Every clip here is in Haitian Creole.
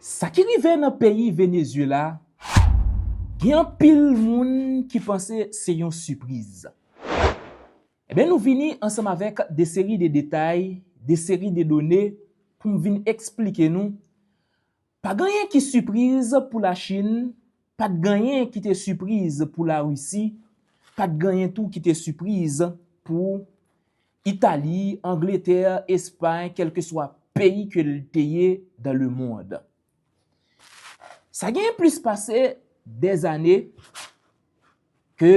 Sa ki rive nan peyi Venezuela gen anpil moun ki panse se yon sipriz. Enben nou vini ansanm avèk de seri de detay, de seri de done pou m vin eksplike nou pa ganyen ki sipriz pou la Chin, pa t ganyen ki te sipriz pou la Risi, pa t ganyen tou ki te sipriz pou Itali, Angletè, Espay, kèlkeswa peyi ke l te ye dan le mond. Sa genyen plis pase 2 zane ke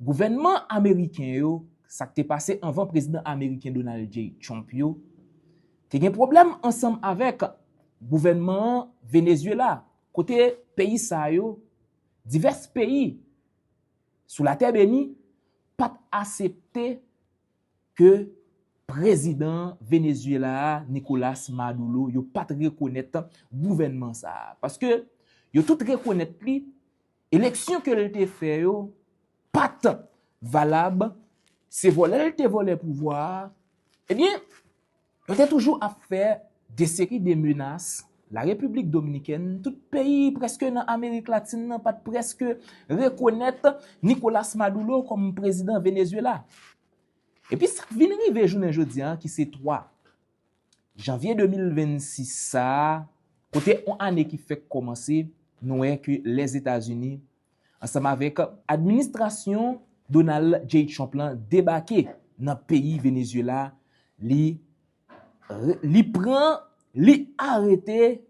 gouvènman ameriken yo, sa k te pase anvan prezidan ameriken Donald J. Trump yo, te gen pwoblèm ansanm avèk gouvènman an Venezyela, kote peyi sa yo, divès peyi, sou latè beni pap asepte ke prezidan Venezuela a Nicolas Maduro yo pat rekonèt gouvènman sa a. Paske yo tout rekonèt li eleksyon ke li te fè yo pat valab se vòlè li te vòlè pouvwa a ebyen Yo te toujou ap fè de seri de menas, la Repiblik Dominikèn, tout peyi prèske nan Amerik Latin nan pat prèske rekonèt Nicolas Maduro kòm prezidan Venezuela. Epi sak vin rive jounen jodi a ki se 3 Janvye 2026 sa, kote on ane ki fèk kòmanse, nou wè ke Lèzetazini ansanm avèk administrasyon Donald J. Trump lan debake nan peyi Venezuela, li li pran, li arete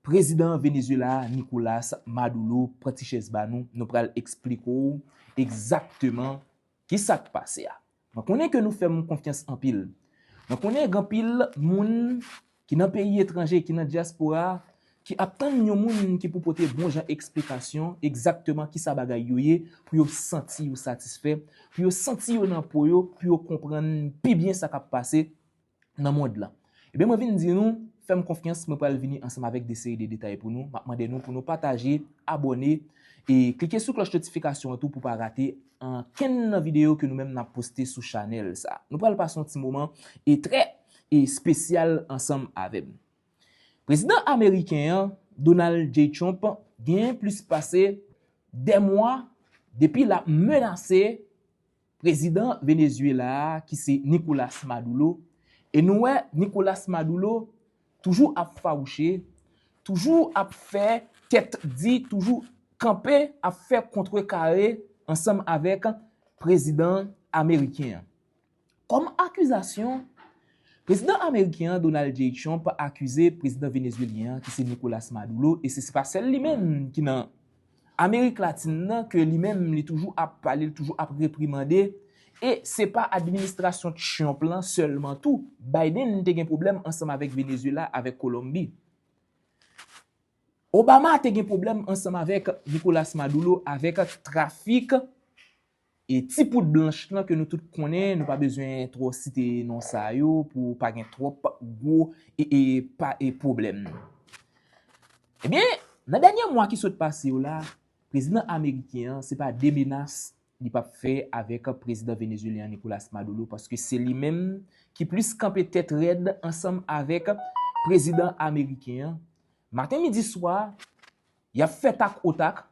prezidan Venezuela a Nicolas Maduro, pran ti chèz ba nou, nou pral esplike w egzakteman Ki sa k pase a? Mwen konnen ke nou fè m konfyans anpil. Mwen konnen gen anpil moun ki nan peyi etranje, ki nan dyaspora a, ki ap tann yon moun ki pou pote bon jan eksplikasyon egzakteman ki sa bagay yo ye, pou yo santi yo satisfè, pou yo santi yo nan po yo, pou yo konprann pi byen sa k ap pase. nan mond lan. Ebyen mwen vin di nou, fèm konfyans mwen pral vini ansanm avèk de seri de detay pou nou, map mande nou pou nou pataje, abòne, e klike sou klòch notifikasyon an tou pou pa rate ankenn nan videyo ke nou menm nap poste sou chanèl sa. Nou pral pase yon ti moman e trè espesyal ansanm avèm. Prezidan ameriken an, Donald J. Trump, genyen plis pase 2 mwa depi lap menase Prezidan Venezuela a ki se Nicolas Madoulo, e nou wè Nicolas Madoulo toujou ap fawouche, toujou ap fè tèt di, toujou kanpe ap fè kontre kare ansanm avèk prezidan ameriken an. Kòm akizasyon, prezidan ameriken an Donald J. Trump akize prezidan venezuelyen an ki se Nicolas Madoulo, e se se pa sèl li menm ki nan. Amerik Latin nan ke li menm li toujou ap pale, li toujou ap reprimande, e se pa administrasyon Trump lan sèlman tou, Biden te gen pwoblèm ansanm avèk Venezuela, avèk Kolonbi. Obama te gen pwoblèm ansanm avèk Nicolas Maduro, avèk trafik E ti poud blanch lan ke nou tout konnen, nou pa bezwen twò site non sa yo pou pa gen twòp gwo e pwoblèm. Ebyen, nan dènye mwa ki sot pase yo la, prezidan ameriken an se pa de menas li pa p fè avèk prezidan venezuelyen an Nicolas Maduro paske se li menm ki plis kanpe tèt rèd ansanm avèk prezidan ameriken an. Maten midi swa, y ap fè tak o tak.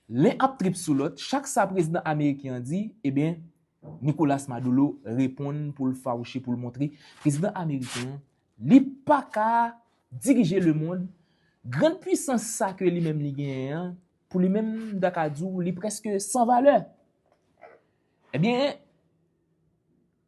Len ap trip sou lòt, chak sa prezidan ameriken an di, eben, Nicolas Madolo reponn pou l fawouche pou l montre prezidan ameriken an li pa ka dirije lemond, grann pwisans sa ke li menm li genyen an, pou li menm m ta ka di w li prèske san valè. Eben,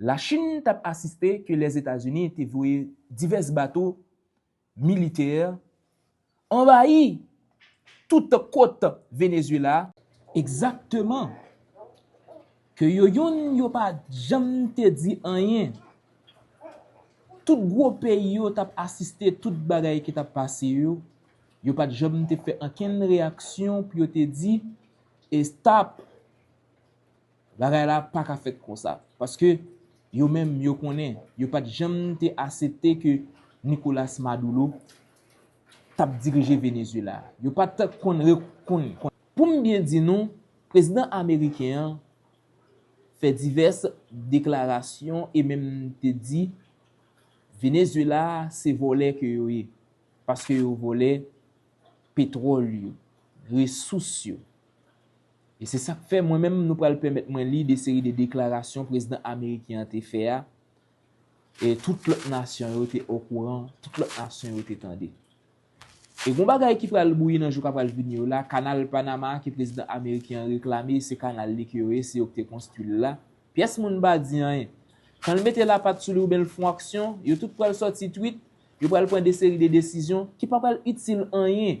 La Chin t ap asiste ke Lèzetazini te voye divès bato militè anvayi tout kot Venezuela, Egzakteman! Ke yo youn yo pa janm te di anyen. Tout gwo peyi yo t ap asiste tout bagay ki t ap pase yo, yo pa t janm te fè ankenn reyaksyon pou yo te di, Estap! Bagay la pa ka fèt konsa, paske yo menm yo konnen yo pa t janm te asepte ke Nicolas Maduro t ap dirije Venezuela. Yo pa t konn rekonn ke. Pou m byen di nou, prezidan ameriken an fè divès deklarasyon e menm te di Venezuela se vòlè ke yo ye, paske yo vòlè petwòl yo, resous yo. E se sa k fè mwen menm nou pral pèmèt mwen li de seri de deklarasyon prezidan ameriken an te fè a, e tout lòt nasyon yo te okouran, tout lòt nasyon yo te tande. E gon bagay ki pral bouyi nan jou k ap pral vini yo la, kanal Panama a ke prezidan ameriken an reklame se kanal li ke yo ye, se yo ki te konstwi l la, pyès moun pa di anyen. Kan l mete lapat sou li oubyen l fon aksyon, yo tout pral sòti twit, yo pral pran de seri de desizyon ki pa pral itil anyen.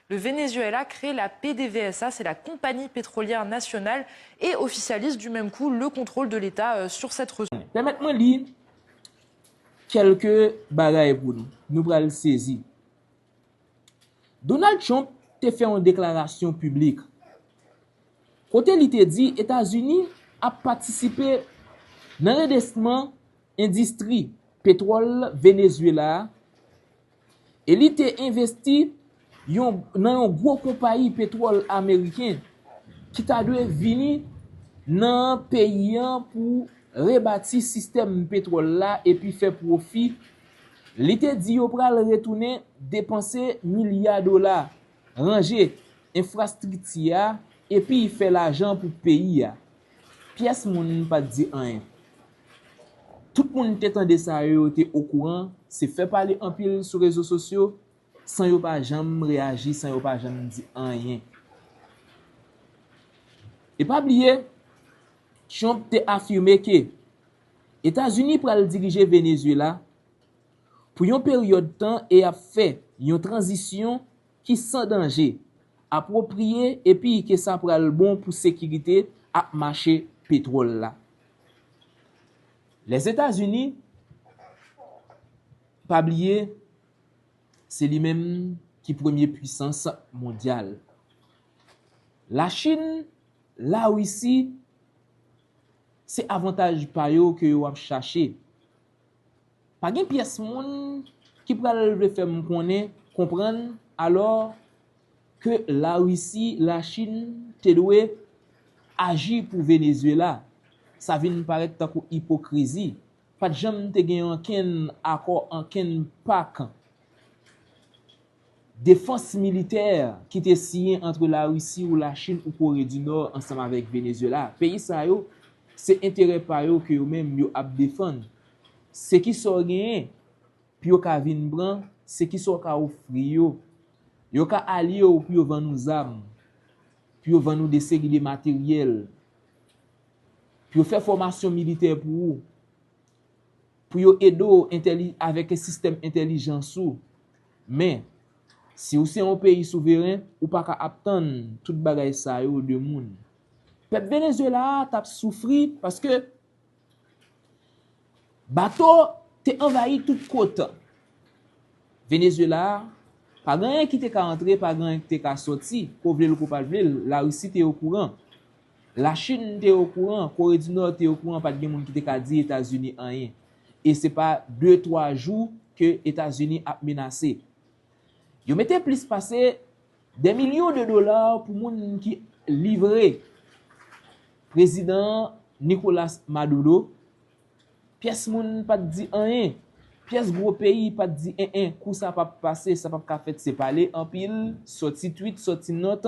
Le Venezuela crée la PDVSA, c'est la Compagnie Pétrolière Nationale, et officialise du même coup le contrôle de l'État sur cette ressource. Pèmèt mwen li kèlke bagay pou nou. Nou pral sezi. Donald Trump te fè yon deklarasyon piblik kote li te di Etazini ap patisipe nan redesman endistri petwòl Venezuela a, E li te envesti nan yon gwo konpayi petwòl ameriken ki ta dwe vini nan peyi an pou rebati sistèm petwòl la epi fè pwofi. Li te di yo pral retounen depanse milya dola, ranje enfrastrikti a epi fè lajan pou peyi a. Pyès moun pa t di anyen. Tout moun te tande sa yo yo te okouran, se fè pale anpil sou rezo sosyo, san yo pa janm reyaji, san yo pa janm di anyen. E pa bliye, Trump te afime ke Etazini pral dirije Venezuela pou yon peryòd tan e ap fè yon tranzisyon, ki san danje, apwopriye epi ke sa pral bon pou sekirite ak mache petwòl la. Lèzetazini, pa bliye, se li menm ki premye pwisans mondyal. Lachin, Larisi, se avantaj pa yo ke yo ap chache. Pa gen pyès moun ki pral vle fè m konnen, konprann, alò, ke Larisi, Lachin, te dwe aji pou Venezyela. Sa vin parèt tankou ipokrizi. Pa t janm te gen ankenn akò, ankenn pak. Defans militè ki te siyen antre Larisi ou Lachin ou Kore di Nò ansanm avèk Venezyela, peyi sa yo, se enterè pa yo ke yo menm yo ap defann. Se ki sa w genyen pou yo ka vin pran, se ki sa w ka ofri yo. Yo ka alye w pou yo vann ou zam, pou yo vann ou de seri de materyèl, pou yo fè fòmasyon militè pou ou. pou yo ede w avèk sistèm entèlijans ou. Men, si ou se yon peyi souveren, ou pa ka ap tann tout bagay sa yo de moun. Pèp Venezuela a t ap soufri paske bato te anvayi tout kot. Venezuela a, pa gen anyen ki te ka antre, pa gen anyen ki te ka soti, ko vle l ou ko pa vle l, Larisi te okouran. La Chin te okouran, Kore di Nò te okouran pat gen moun ki te ka di Etazini anyen. E se pa de twa jou ke Etazini ap menase. Yo mete plis pase dè milyon de dola pou moun ki livre prezidan Nicolas Maduro. Pyès moun pat di anyen. Pyès gwo peyi pat di en en kou sa pap pase, sa pap ka fèt se pale anpil, sòti twit, sòti nòt.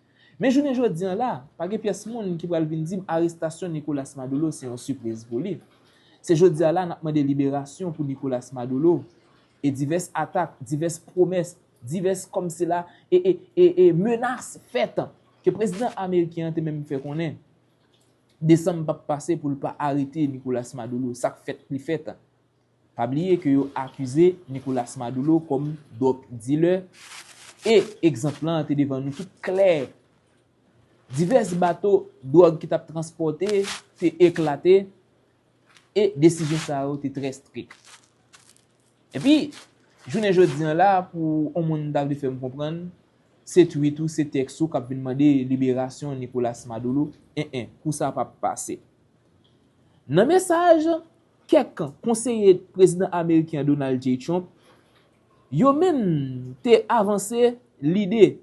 Men jounen jodi an la, pa gen pyès moun ki pral vin di m arestasyon Nicolas Madolo se yon sipriz pou li. Se jodi a la n ap mande liberasyon pou Nicolas Madolo e divès atak, divès pwomès, divès kòmsila e e e menas fèt ke prezidan ameriken an te menm fè konnen desanm p ap pase pou l pa arete Nicolas Madolo, sa k fèt li fèt. Pa bliye ke yo akize Nicolas Maduro kòm drug dealer e egzanp lan an te devan nou tout klè. Divès bato drug ki tap transpòte te eklate e desizyon sa yo te trè strik. Epi, jounen jodi an la pou on moun ta vle fèm konprann se tweet ou, se tèks ou kap vin mande liberasyon Nicolas Maduro, en en, kou sa pap pase. Nan mesaj. Kèk konseye Prezidan Ameriken an Donald J. Trump yo menm te avanse lide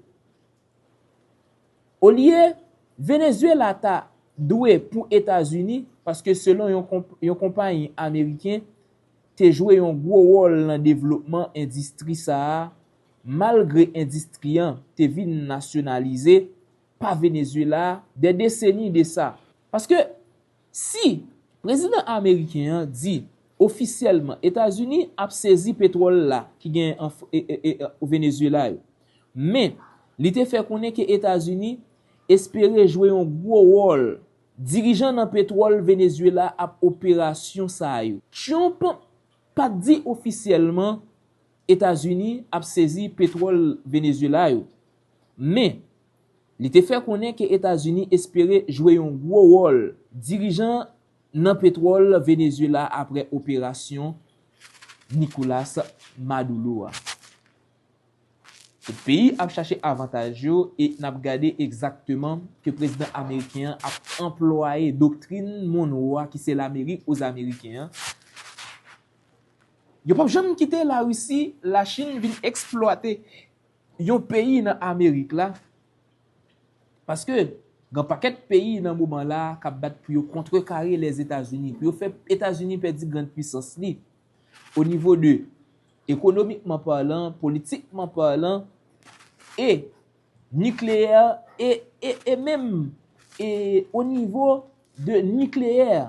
olye Venezuela ta dwe pou Etazini paske selon yon konpayi Ameriken te jwe yon gwo wòl nan devlopman endistri sa a malgre endistri an te vin nasyonalize pa Venezuela dè deseni de sa. Paske Si, Prezidan ameriken an di ofisyèlman Etazini ap sezi petwòl la ki gen an Venezuela yo. Men, li te fè konnen ke Etazini espere jwe yon gwo wòl dirijan nan petwòl Venezuela ap operasyon sa yo. Trump pat di ofisyèlman Etazini ap sezi petwòl Venezuela yo. Men, Li te fè konnen ke Etazini espere jwe yon gwo wòl dirijan nan petwòl Venezuela apre operasyon Nicolas Madoulo a. Tout peyi ap chache avantaj yo e n ap gade egzakteman ke prezidan ameriken an ap anplwaye doktrin Monroe a ki se Lamerik o zameriken an. Yo p ap janm kite Larisi, Lachin vin eksplwate Yon peyi nan amerik la, paske gen pakèt peyi nan moman la a kap bat pou yo kontrekare Lèzetazini, pou yo fè Etazini pèdi grand pwisans li, o nivo de ekonomikman palan, politikman palan, e nikleyè, e, e, e menm, e o nivo de nikleyè,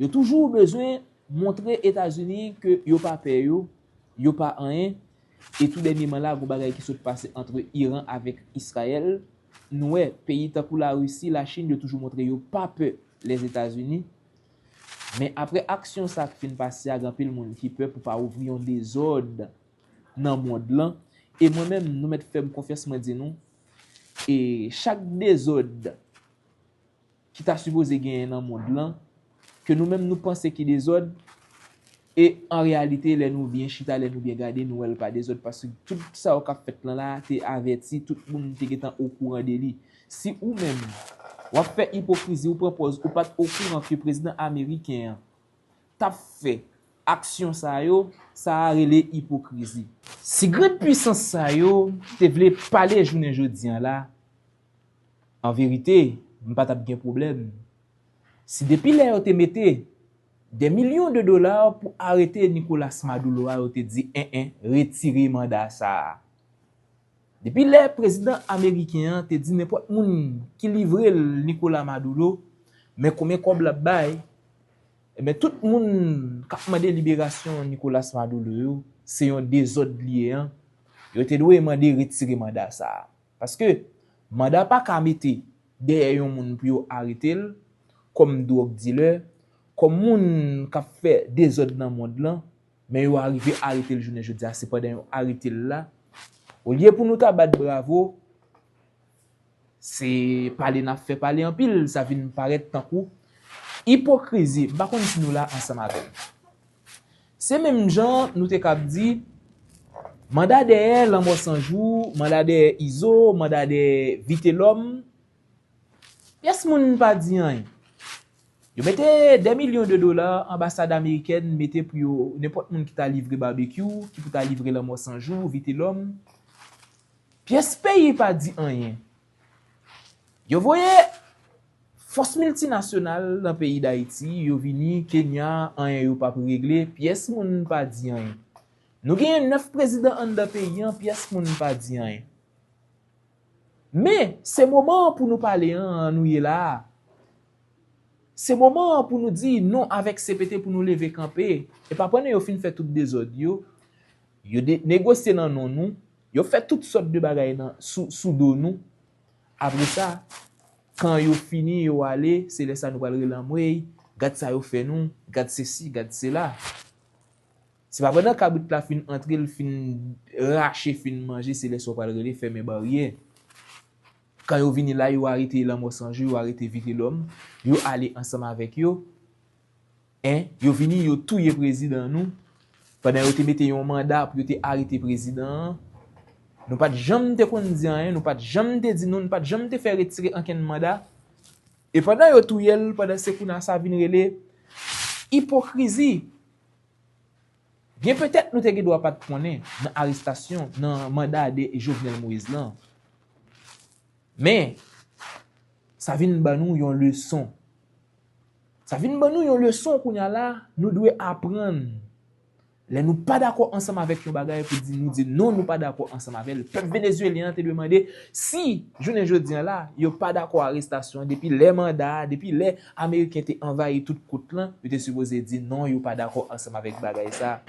Yo toujou bezwen montre Etazini ke yo pa pè yo, yo pa anyen, e tou dènyeman la gon bagay ki sot pase antre Iran avèk Israel, nou wè peyi tankou la Russie, la Chine yo toujou montre yo pa pè Lèzetazini, men apre aksyon sa k fin pase a gen anpil moun ki pè pou pa ouvri yon dezòd nan mond lan, e mwen menm nou mèt fèm konfyans mwen di nou, e chak dezòd. ki ta sipoze genyen nan mond lan, ke nou menm nou panse ki dezòd, e an reyalite lè nou byen chita, lè nou byen gade, nou wè l pa dezòd, paske tout sa yo k ap fèt lan la a te avèti, tout moun te gen tan okouran de li. Si ou menm, w ap fè ipokrizi, ou pran pòz ou pa t okouran ke prezidan ameriken an t ap fè aksyon sa yo, sa a rele ipokrizi. Si grand pwisans sa yo te vle pale jounen jodi an la, Anverite, m pa t ap gen pwoblèm si depi lè yo te mete dè milyon de dola pou arete Nicolas Madoulo a yo te di en en retire manda sa a. Depi lè prezidan ameriken an te di nenpòt moun ki livre l Nicolas Madoulo men konbyen kòb l ap bay, enben tout moun k ap mande liberasyon Nicolas Madoulo yo se yon dezòd li ye an, yo te dwe mande retire manda sa a. Paske, manda pa ka mete dèyè yon moun pou yo arete l, kòm dwòg dilè, kòm moun k ap fè dezòd nan mond lan, men yo arive arete l jounen jodi a, se pandan yo arete l la, olye pou nou ta bat bravo, se pale n ap fè pale anpil, sa vin parèt tankou ipokrizi, m pa konn si nou la ansanm avè m. Se menm jan an nou te kab di, manda dèyè Lanmò 100 jou, manda dèyè Izo, manda dèyè Vitelòm, pyès moun pa di anyen. Yo mete dè milyon de dola, anbasad amerikèn mete pou yo, nenpòt moun ki ta livre Babekyou, ki pou ta livre Lanmò 100 jou, Vitelòm, pyès peyi pa di anyen. Yo voye fòs miltinasyonal nan peyi Dayiti, yo vini Kenya, anyen yo pap regle, pyès moun pa di anyen. Nou genyen 9 prezidan anndan peyi an, pyès moun pa di anyen. Men, se moman an pou nou pale an, an nou ye la a. Se moman an pou nou di non avèk CPT pou nou leve kanpe, epa pandan yo fin fè tout dezòd yo, yo negosye nan non nou, Yo fè tout sòt de bagay nan sou do nou, apre sa kan yo fini yo ale se lè sa nou pral rele anmweyy gad sa yo fè nou, gad sesi gad sela. Se pa pandan kabrit la fin antre l fin rache fin manje se lè sa w pral rele fèmen baryè. Kan yo vini la yo arete lanmò sanjou yo arete vitelòm yo ale ansanm avèk yo. 1, Yo vini yo touye prezidan nou pandan yo te mete yon manda pou yo te arete prezidan an. Nou pa t janm te konn di anyen, nou pa t janm te di nou, nou pa t janm te fè retire ankenn manda. E pandan yo touye l, pandan se kounye sa vin rele ipokrizi. Byen petèt nou te gen dwa pa t konnen nan arestasyon, nan manda de Jovenel Moïse lan. Men, sa vin ban nou yon leson Sa vin ban nou yon leson kounye a la, nou dwe aprann lè nou pa dakò ansanm avèk yon bagay pou di nou di non nou pa dakò ansanm avè l. Pèp Venezuelyen an te dwe mande si jounen jodi an la yo pa dakò arestasyon an depi lè manda a, depi lè Ameriken te anvayi tout kot lan, yo te sipoze di non yo pa dakò ansanm avèk bagay sa.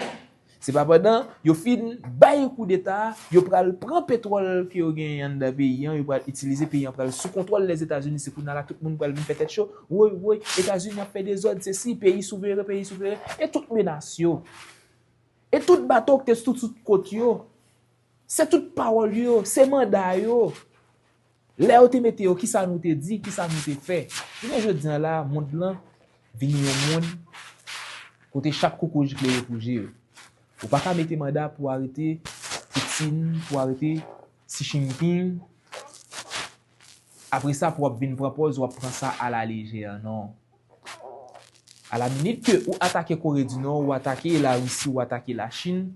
Se pa pandan yo fin bay koudeta a, yo pral pran petwòl ke yo genyen anndan peyi an, yo pral itilize, peyi an pral sou kontwòl Lèzetazini, se kounye a la tout moun pral vin fè tèt cho, woy woy, Etazini ap fè dezòd, sesi, peyi souveren, peyi souveren, e tout menas yo, e tout bato ki te sou tout kot yo, se tout pawòl yo, se manda yo, Lè yo te mete yo, kisa nou te di, kisa nou te fè? Jounen jodi an la, mond lan vini yon mond kote chak koko jikle yo pou je yo. Ou pa ka mete manda pou arete Putin, pou arete Xi Jinping, apre sa pou w ap vin pran pòz ou ap pran sa a la lejè an non. A la minit ke ou atake Kore di Nò, ou atake la Risi, ou atake la Chin,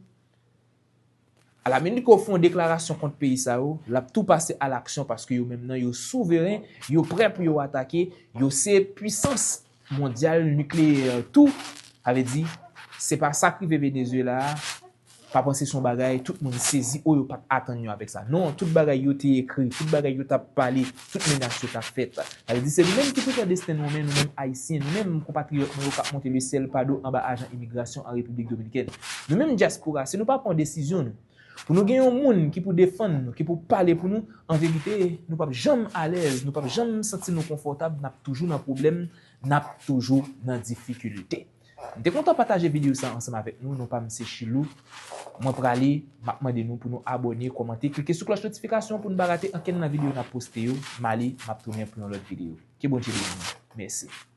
Alaminit ke w fon deklarasyon kont peyi sa yo, lap tou pase a laksyon paske yo menm nan yo souveren, yo prè pou yo atake, yo se pwisans mondyal nikleyè tou, sa vle di se pa sak rive Venezuela a, pa panse son bagay tout moun sezi o yo pat atann yo avèk sa non, tout bagay yo te ekri, tout bagay yo tap pale tout menas yo ta fèt. Sa vle di se nou menm ki pou pran desten nou an men, nou menm Ayisyen, nou menm konpatriyòt mwen yo k ap monte le sèl pa do anba ajan imigrasyon an Repiblik Dominikèn. Nou menm dyaspora, si nou pa pran desizyon nou, pou nou gen yon moun ki pou defann nou, ki pou pale pou nou, an verite, nou p ap janm alèz, nou p ap janm santi nou konfòtab, n ap toujou nan pwoblèm, n ap toujou nan difikilte. M te kontan pataje video sa ansanm avèk nou, non pam se Shilou, mwen prale map mande nou pou nou abòne, kòmante, klike sou klòch notifikasyon pou nou pa rate ankenn nan video nap poste yo, male map tounen pou yon lòt video. Ke Bondye beni nou. Mèsi.